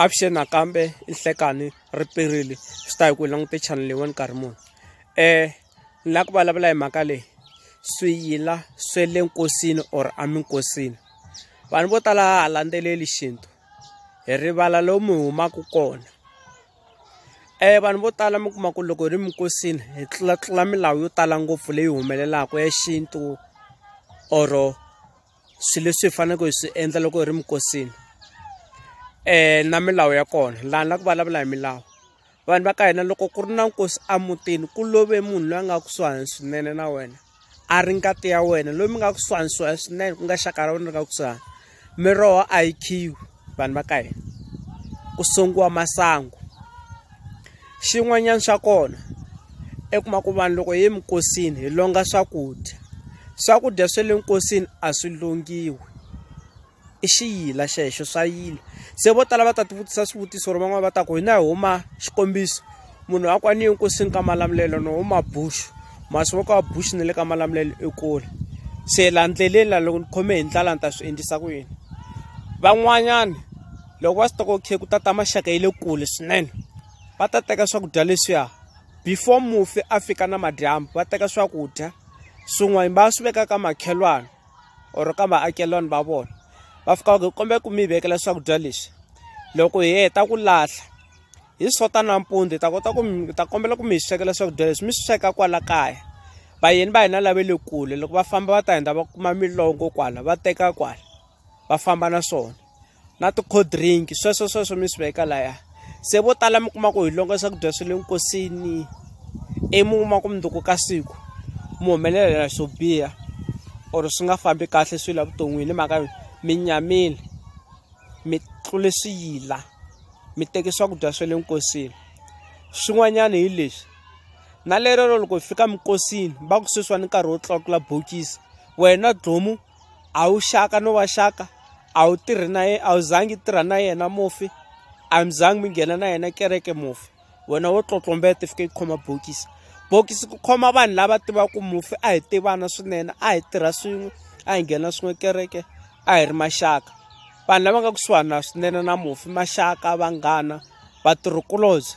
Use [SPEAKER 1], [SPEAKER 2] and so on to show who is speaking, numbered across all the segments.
[SPEAKER 1] Avuxeni nakambe i Nhlekani ri perile swi ta hi ku hi langute channel leyiwani nkarhi muni um ni lava ku vulavula hi mhaka leyi swiyila swe le nkosini or eminkosini vanhu vo tala ha landzeleli xintu hi rivala lomu hi humaka kona um vanhu vo tala mi kuma ku loko hi ri minkosini hi tlulatlula milawu yo tala ngopfu leyi humelelaka ya xintu or swilo leswi hi faneleke hi swi endla loko hi ri minkosini um na milawu ya kona laha ni la ku vulavula hi milawu vanhu va ka hina loko ku ri na nkosi emutini ku love munhu loyi a nga kusuhani swinene na wena a ri ngati ya wena loyi mi nga kusuhani swinene ku nga xaka ra wena ri nga kusuhani miroho a yi khiwi vanhu va ka hina ku sengiwa masangu xin'wanyana xa kona i kuma ku vanhu loko hi ye minkosini hi longa swakudya swakudya swa le nkosini a swi longiwi i xiyila xexo swa yila se vo tala va ta tivutisa swivutiso ri van'wana va ta ku hina hi huma xikombiso munhu a kwani enkosini ka malamulelo no huma buxu masi wa ka wa buxu ni le ka malamulelo ekule se la ndleleni la loko ni khome hi ndlala ni ta swi endlisa ku yini van'wanyana loko va swi toko khe ku tata maxaka ya le kule swinene va ta teka swakudya leswiya before mufi a fika na madyambu va teka swakudya swin'wana va swi veka ka makhelwana or ka vaakelwani va vona va fika va ku kombela ku mi vekela swakudya leswi loko hi heta ku lahla hi sota nampundzu hi ta kota ku mi ta kombela ku mi hi swekela swakudya leswi mi swi sweka kwala kaya vayeni va hina lave le kule loko va famba va ta hindza va kuma milongo kwala va teka kwala va famba na swona na ti-cold drink sweswo sweswo mi swi veka laya se vo tala mi kuma ku hi longa swakudya swa le nkosini ivi mi kuma ku mundzuku ka siku mi humelelela swo biha or swi nga fambi kahle swilo evuton'wini hi mhaka yo mi nyamile mi tlule swiyila mi teke swakudya swa le nkosini swin'wanyana hi leswi na lerero loko hi fika minkosini va ku sweswiwani nkarhi wo tlakula bokisi wena dlomu a wu xaka no wa xaka a wu tirhi na yena a wu zangi tirha na yena mufi a mi zangi mi nghena na yena kereke mufi wena wo tlotlombeta fika yi khoma bokisi bokisi ku khoma vanhu lava tivaka mufi a hi tivana swinene a hi tirha swin'we a hi nghena swin'we kereke a hi ri maxaka vanhu lava nga kusuhana swinene na mufi maxaka vanghana vatirhikulobye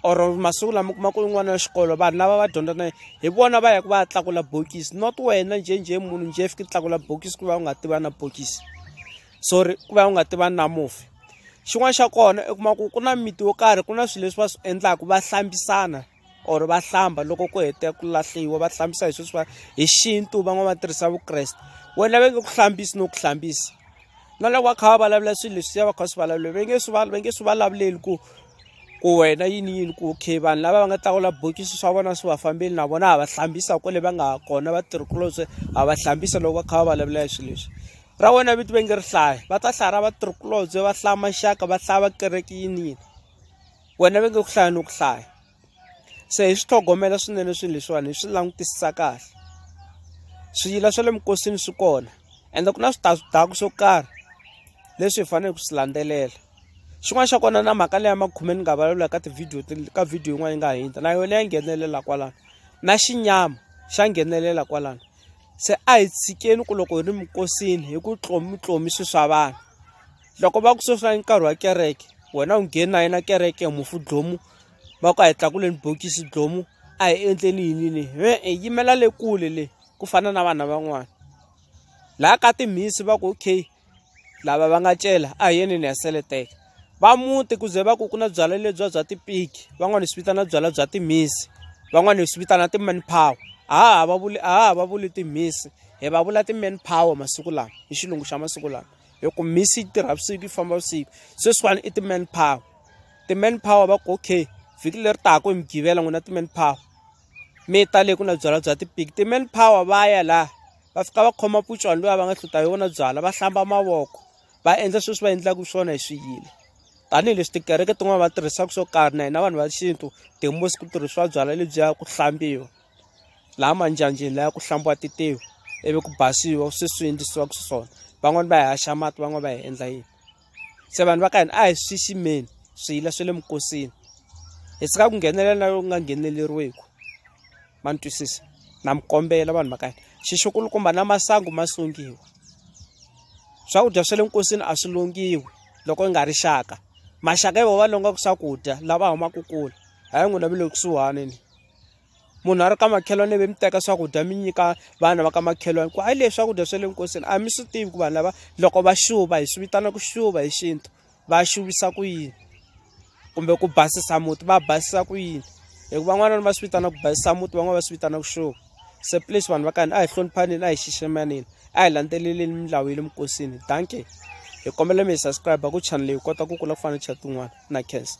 [SPEAKER 1] or masiku lama kuma ku n'wana wa xikolo vanhu lava va dyondza na hi vona va yaka va ya tlakula bokisi not wena njhenjhe munhu njhe fika tlakula bokisi ku va u nga tiva na bokisi sorry ku va u nga tivani na mufi xin'wana xa kona i kuma ku ku na miti yo karhi ku na swilo leswi va swi endlaka va hlambisana or va hlamba loko ku hete ku lahliwa va hlambisa hi sweswi va hi xintu van'wana va tirhisa vukreste wena va nge ku hlambisi no ku hlambisa na loko va kha va vulavula swilo leswi ya va kha swi vulavula va nge swi va nge swi vulavuleli ku ku wena yini yini ku okay vanhu lava va nga tlakula bokisi swa vona swi va fambeli na vona ha va hlambisa kwale va nga ha kona vatirhikulobye ha va hlambisa loko va kha va vulavula hi swilo leswi ra wena vito va nge ri hlaya va ta hlaya ra vatirhikulobye va hlaya maxaka va hlaya va kereke yini yini wena va nge ku hlaya ni ku hlaya se hi swi tlhogomela swinene swilo leswiwani hi swi langutisisa kahle swiyila swa le minkosini swi kona ende ku na switazwidaku swo karhi leswi hi faneleke ku swi landzelela xin'wana xa kona na mhaka leya makhume ni nga vulavula ka tivhidiyo ka vhidiyo yin'wana yi nga hundza na yona ya nghenelela kwalano na xinyama xa nghenelela kwalano se a hi tshikeni ku loko hi ri minkosini hi ku tlomi tlomi swi swa vanhu loko va ku sweswi i nkarhi wa kereke wena u ngheni na yena kereke mufu dlomu va ku a hi tlakuleni bokisi dlomu a hi endleni yinini e-e yimela le kule le ku fana na vana van'wana laha ka timhisi va ku okay lava va nga cela a hi yini ni ya seletela va muti ku ze va ku ku na byalwa lebyiya bya tipiki van'wani hi swi vitana byalwa bya timhisi van'wani hi swi vitana ti-man power a ha ha va vuli a ha ha va vuli timhisi hi va vula ti-man power masiku lawa hi xilungu xa masiku lawa hi ku mhisi yi tirha vusiku yi famba vusiku sweswiwani i ti-man power ti-man power va ku okay vhiki leri taka hi mugqivela n'wina ti-man power mi ta le ku na byalwa bya tipiki ti-man power va ya laha va fika va khoma putswani loyi a va nga hluta hi wona byala va hlamba mavoko va endla sweswi va endlaka swona hi swiyile tanihileswi tikereke tin'wana va tirhisaka swo karhi na hina vanhu va xintu tihosi ku tirhisiwa byala lebyiya ku hlambiwa laha manjanjeni laya ku hlambiwa titiwi ivi ku basiwa sweswi endlisiwaka xiswona van'wani va hi haxa mati van'wani va hi endla yini se vanhu va ka hina a hi swi xiximeni swiyila swa le minkosini hi sika ku nghenelela na loku nga ngheneleriweki ma ni twisisa na mi kombela vanhu va ka hina xixukulukumba na masangu ma sungiwa swakudya swa le nkosini a swi longiwi loko yi nga ri xaka maxaka yi va va longaka swakudya lava humaka kule hayi n'wina mi le kusuhani ni munhu a ri ka makhelwani ivi mi teka swakudya mi nyika vana va ka makhelwani ku hayi leswi swakudya swa le nkosini a mi swi tivi ku vanhu lava loko va xuva hi swi vitana ku xuva hi xintu va xuvisa ku yini kumbe ku basisa muti va basisa ku yini hikuva van'wana va swi vitana ku basisa muti van'wana va swi vitana ku xuva se please vanhu va ka hina a hi hloniphaneni a hi xiximaneni a hi landzeleleni milawu ya le minkosini dankie hi kombela mi hi subscribe ku channel hi kota ku kula ku fana chat tin'wana na khensa